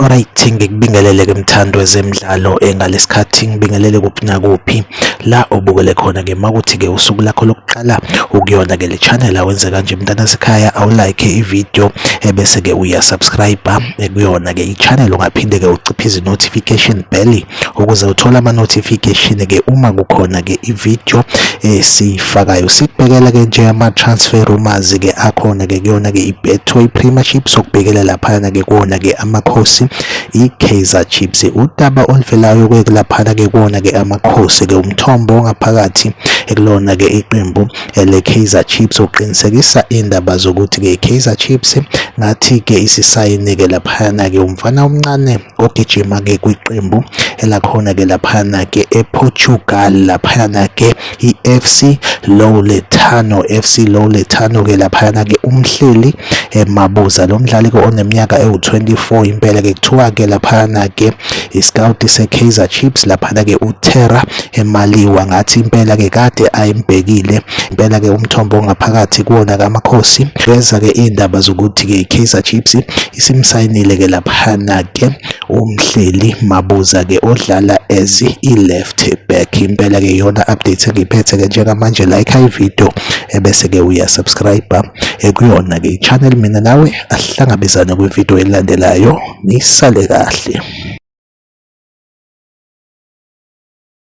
Alright ngikubingelele ke mthando wezemidlalo engalesikhathi eh, ngibingelele kuphi nakuphi la obukele khona ke makuthi ke usuku lakho lokuqala ukuyona ke le channel awenze kanje mntana sekhaya awulike ivideo ebese eh, ke uyasubscribe eh, kuyona ke ichannel ungaphinde ke uciphe izi notification bell ukuze uthole ama notification ke uma kukhona ke ivideo esiyifakayo sikubhekela ke nje ama transfer rumors ke akhona ke kuyona ke iBetway Premiership sokubhekela laphana ke kuona ke amakhosi iKaizer Chiefs udaba oluvelayo ke laphana ke kuona ke amakhosi ke umthombo ongaphakathi ekulona ke iqembu ele Kaizer Chiefs uqinisekisa indaba zokuthi ke Kaizer Chiefs ngathi ke isisayinike laphana ke umfana omncane ogijima-ke kwiqembu elakhona-ke laphana-ke ePortugal laphana-ke i-FC Louletano FC Louletano-ke laphana-ke umhleli emabuza lo mdlali-ke oneminyaka ewu-24 impela-ke kuthiwa-ke laphana-ke isikawuti se-Kaizer Chiefs laphana-ke uTerra emaliwa ngathi impela-ke kade ayimbhekile impela-ke umthombo ongaphakathi kuwona kaMakhosi beza-ke iy'ndaba zokuthi-ke i-Kaizer Chiefs Isimsayinile ke laphana ke umhleli Mabuza ke odlala as i-left back impela ke yona update engiphethe ke njengamanje like i video ebese ke uya subscribe ekuyona ke i-channel mina nawe asihlangabezane kwi-video elandelayo nisale kahle